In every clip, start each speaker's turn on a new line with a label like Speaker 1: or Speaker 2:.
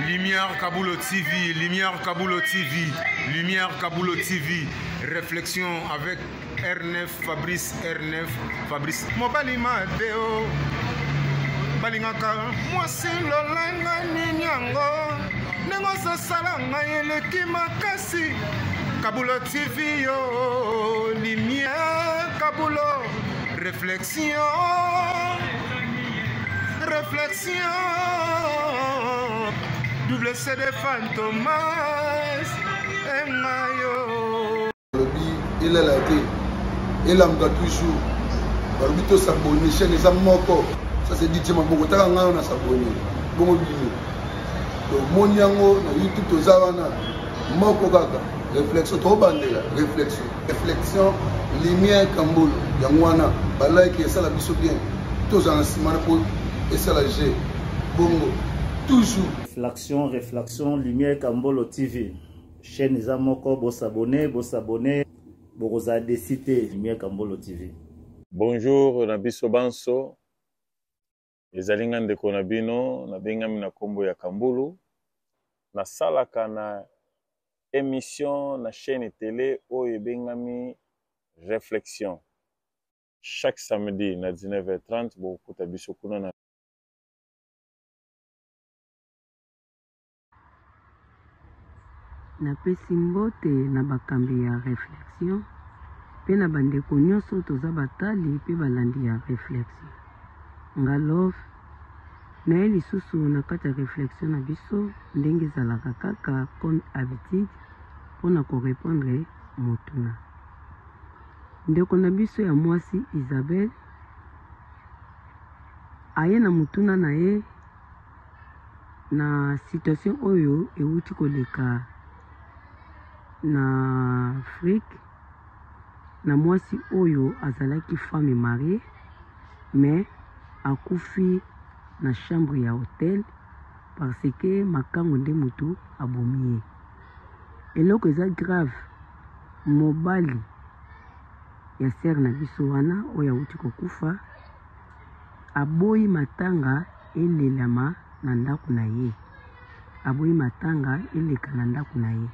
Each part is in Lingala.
Speaker 1: Lumière Kabulo TV, Lumière Kabulo TV, Lumière Kabulo TV, réflexion avec R9, Fabrice R9, Fabrice. Mobali Mateo, balingaka mwasi lolanga nini yango ndenge ozosala ngai eleki makasi Kabulo TV yo, Lumière Kabulo, réflexion. Réflexion, double CD Fantomas, et Mayo. Il est
Speaker 2: là, il est là, toujours. balobi tosabone chaine eza moko ça c'est dit tima boko taka ngai na sabone bongo bino tomoni yango na youtube toza wana moko kaka réflexion tobandela réflexion reflexion lumière kambolo yango wana balike esala biso bien tozala na nsima na po esala je bongo toujours reflexion
Speaker 3: reflexion lumière kambolo tv chaîne eza moko bosabone bosabone bokozala desi te lumière kambolo tv bonjour
Speaker 4: na biso banso Ezali nga ndeko na bino nabengami na nkombo ya Kambulu, nasalaka na emission na chaîne tele oyo ebengami Reflexion. Chaque samedi na 19h30 bokokuta biso kuna na
Speaker 5: Napesi mbote na bakambi ya Reflexion mpe na bandeko nyonso toza batali mpe balandi ya Reflexion. Nga Love, naye lisusu na kati ya Reflexion na biso ndenge ezalaka kaka comme habitude mpo na ko repondre motuna. Ndeko na biso ya mwasi Isabelle aye na motuna na ye Na situation oyo ewuti koleka na Afrique na muasi oyo azalaki femme marie mais akufi na chambre ya hotel parce que makangu nde mutu abomi ye. Eloko eza grave mobali ya sœur na biso wana oyo awuti kokufa Aboyi matanga elelama na ndako na ye. Aboyi matanga eleka na ndako na ye.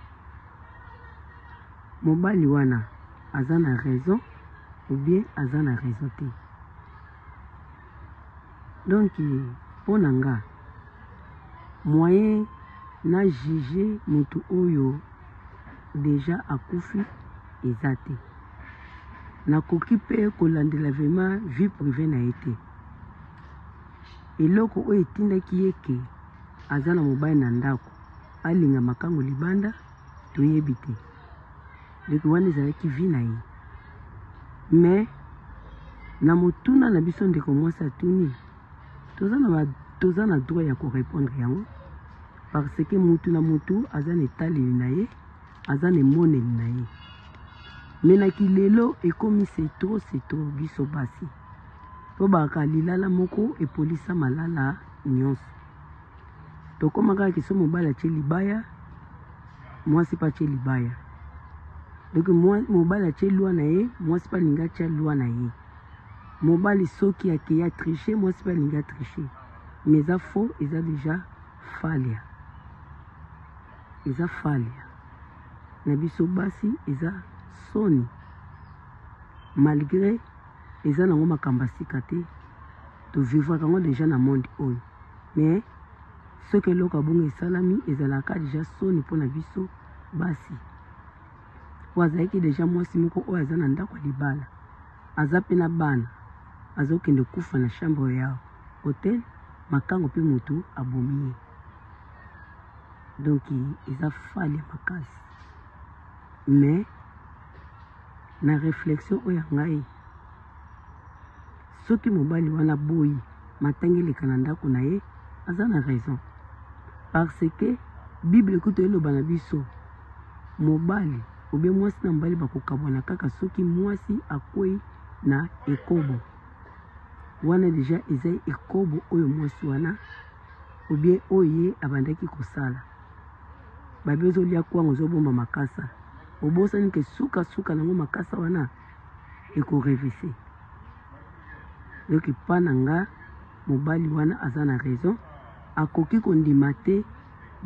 Speaker 5: Mobali wana aza na raison ou bien aza na raison te? Donc mpo na nga moyen na juger mutu oyo dejà akufi eza te. nakoki mpe kolandela vrema vie prive na ye te eloko oyo etindaki ye ke aza na mobali na ndako alinga makango libanda toyebi te leki wana ezalaki vi na ye me na motuna na biso ndeko mwasi atuni toza na, ba, toza na droit ya korepondre yango parce que mutu na mutu aza na etaleli na ye aza na emoneli na ye me na kilelo ekomi setro setro biso basi tobaka lilala moko epolisa malala nyonso tokoma kaka kiso mobali atye libaya mwasi mpe atye libaya donc mobali atye lwa na ye mwasi mpe alingi atya lwa na ye mobali soki akei atriche mwasi mpe alingi atriche mais eza faux eza deja falia Eza fally na biso basi eza soni malgre eza nango makambo ya sika te to vivraka yango deja na monde oyo mais soki eloko ya bongo esalami ezalaka deja soni mpo na biso basi po azalaki deja mwasi moko oyo aza na ndako ya libala aza mpe na bana azokende kufa na chambre ya hotel makango mpe motu abomi ye donc eza fale makasi mais na réflexion oyo ya ngai soki mobali wana boyi matangi eleka na ndako na ye aza na raison parce que bible kutu eloba na biso mobali obe mwasi na mobali bakokabwana kaka soki mwasi akwei na ekobo wana deja eza ekobo oyo mwasi wana ou bien oyo ye abandaki kosala babi ozolia kwango ozobomba makasa obosani ke suka suka nango makasa wana ekorevise donc epa na nga mobali wana aza na raison akoki kondima te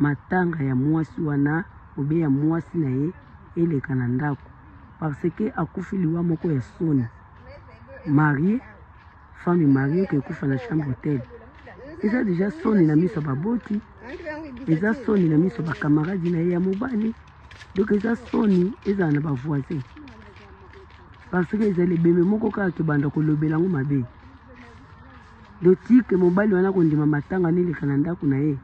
Speaker 5: matanga ya mwasi wana obe ya mwasi na ye eleka na ndako parce que akufi liwa moko ya soni marie femme marie ke kufa na chambre hotel eza deja soni na miso baboti eza soni na miso bakamaradi na ye ya mobali donc eza soni ezala na bavoisin parce que ezali ebembe moko kaka tobanda kolobela yango mabe dotike mobali wana kondima matanga neleka na ndako na ye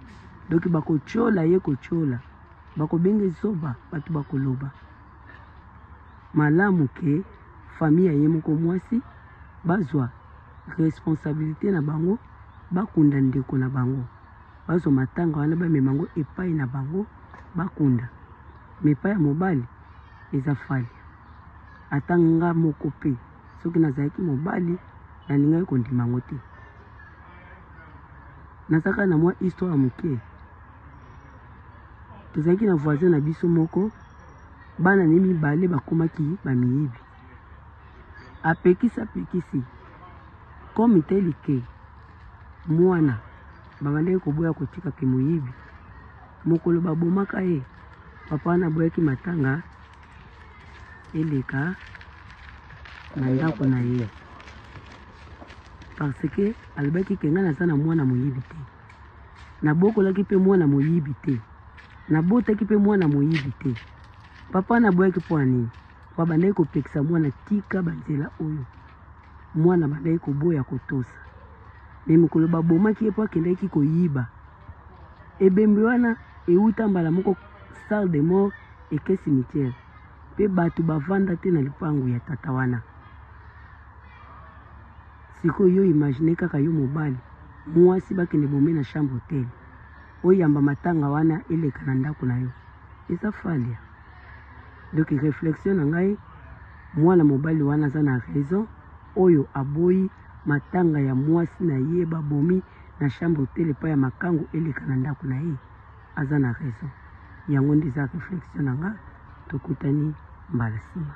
Speaker 5: donk bakotyola ye kotyola bakobenga ezoba bato bakoloba malamu ke famille ya ye moko mwasi bazwa responsabilité na bango bakunda ndeko na bango bazwa matanga wana bamema yango epai na bango bakunda me epai ya mobali eza fali ata nga moko mpe soki nazalaki mobali nalingaki kondima yango te nazaka na mwa histoire moke tozalaki na voisin na biso moko bana ne mibale bakomaki bamiyibi apekisi apekisi comme teli ke mwana babandaki koboya kotika ke moyibi mokolo babomaka ye papa wana aboyaki matanga eleka na ndako na ye parce que alobaki ke ngai naza na mwana moyibi te Nabokolaki mpe mwana moyibi te. Nabotaki mpe mwana moyibi te. Papa naboyaki mpo ya nini? Mpo abandaki kopekisa mwana tika banzela oyo. Mwana abandaki koboya kotosa. Me mokolo babomaki ye mpo akendaki koyiba. Ebembe wana euta mbala moko salle de mort eke cimetière. Mpe bato bavanda te na lipangu ya tata wana. Sikoyo yo imagine kaka yo mobali muasi bakende bome na chambre hotel oyamba matanga wana eleka na ndako na yo eza falia donc reflexion na ngai mwana mobali wana aza na raison oyo aboyi matanga ya mwasi na ye babomi na chambre hotel epai ya makango eleka na ndako na ye aza na raison yango nde eza reflexion na nga tokutani mbala nsima